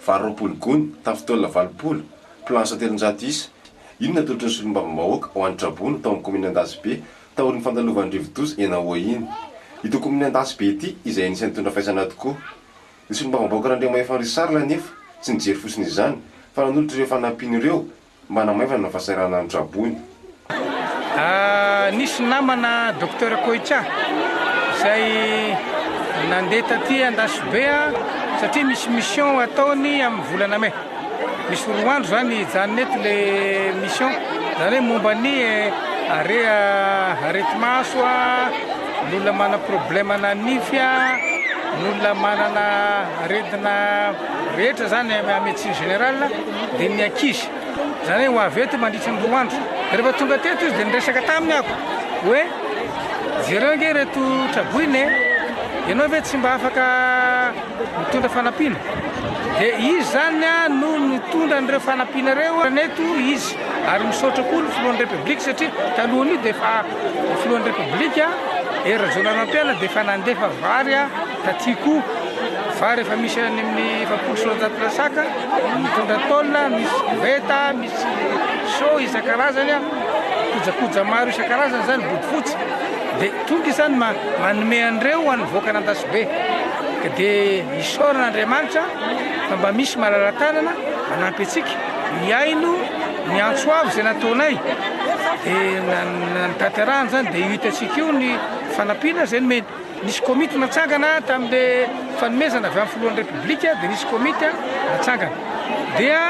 Vary roapolo gony, tafo taolana valopolo, planche telonjato isa, io no natolotry ny solombavambahoaka ho an'ny traboina tao amin'ny kaominina Andasibe taorian'ny fandalovan'ny rivodoza eny Ahoa iny. Ity kaominina Andasibe ity izay anisan'ny nitondra faisana tokoa. Ny solombavambahoaka Randriamahefa Richard anefa tsy nijery fotsiny izany fa nanolotra ireo fanampiany ireo Manamaivana ny fahasahiranana ny traboina. Nisy namana Docteur Koicha izay nandeha taty Andasibe satria misy mission ataony amin'ny volana mai. Misy roa andro izany hijanona eto ilay mission, izany hoe momba ny harea areti-maso, ny olona manana problème-na nify, ny olona manana aretina rehetra izany médecine générale. dia ny ankizy, izany hoe ho avy eto mandritra ny roa andro. Dia rehefa tonga teto izy dia niresaka taminy aho hoe jereo ange ireto traboina e, ianao ve tsy mba afaka mitondra fanampiana? Dia izy izany no nitondra an'ireo fanampiana ireo neto izy, ary misaotra koa ny filohan'ny Repoblika satria talohan'io dia efa filohan'ny Repoblika Hery Rajaonarimampianina dia efa nandefa vary Taty koa fa rehefa misy any amin'ny efapolo sy roanjato lasaka mitondra tôle, misy koveta, misy seau isan-karazany a, kojakoja maro isan-karazany izany, bodofotsy, dia tonga izany ma- manome an'ireo ho an'ny vahoakan'Andasibe. Ka dia isaorana Andriamanitra fa mba misy malala-tanana manampy antsika, mihaino ny antso avo izay nataonay, dia na- na- ny tanterahany izany, dia io hitantsika io ny fanampiana izay nomeny. Nisy komity natsangana tamin'le fanomezana avy amin'ny filohan'ny Repoblika dia nisy komity natsangana dia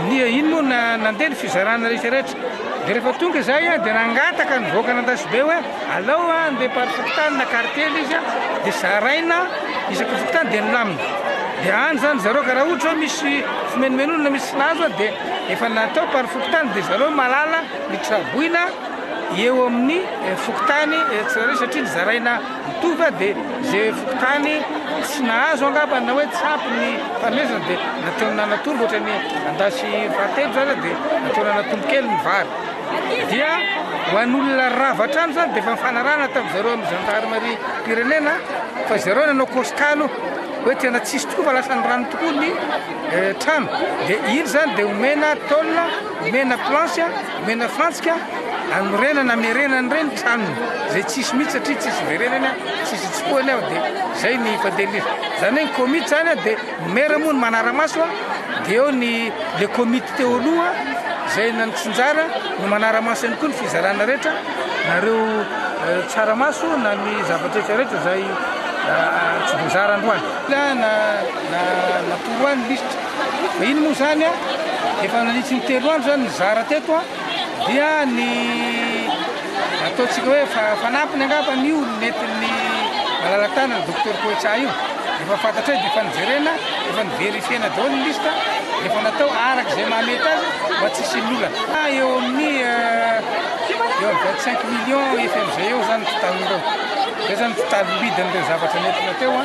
ny iny moa na nandeha ny fizarana rehetra rehetra dia rehefa tonga izay dia nangataka ny vahoaka an'Andasibe hoe alao andeha par fokontany na quartier le izy dia zaraina isaky fokontany dia nilamina dia any zany zareo ka raha ohatra hoe misy fimenomenonana misy tsy nahazo dia efa natao par fokontany dia zareo mahalala ny traboina eo amin'ny fokontany tsirairay satria nizaraina mitovy dia ze fokontany tsy nahazo angamba na hoe tsy ampy ny fanomezana dia nataony nanatombo ohatra ny andasy fahatelo zany dia nataony nanatombo kely ny vary dia ho an'olona rava hatrany zany dia efa mifanarahana tamin'ny zareo amin'ny gendarmerie mpirenena fa zareo nanao kosika aloha hoe tena tsisy tokoa fa lasa ny rano tokoa ny trano dia iny zany dia omena tôle Omena planche, omena fantsika, anorenana, amerenana ireny tranony izay tsisy mihitsy satria tsisy iverenany, tsisy itsofohany ao dia izay ny fandehan'izy. Izany hoe ny komity izany dia ny maire moa no manara-maso dia eo ny le komity teo aloha izay nantsinjara no manara-maso ihany koa ny fizarana rehetra nareo tsaramaso na ny zava-drehetra rehetra izay tsy voazara androany. Na na natoroany lisitra. Iny moa izany a, efa nanitsy ny telo andro izany nizara teto a, dia ny ataontsika hoe fa- fanampiny angambany io ny nentin'ny malala-tanana Docteur Koetsa io. Efa fantatray dia efa nijerena, efa ni-verifier-na daholo ny liste, dia efa natao araka izay mahamety azy mba tsy hisian'ny olana. Fa eo amin'ny eo amin'ny vingt cinq millions ef ef zay eo izany ny totaliny ireo. Izay izany ny totalim-bidin'ireo zavatra nentina teo a.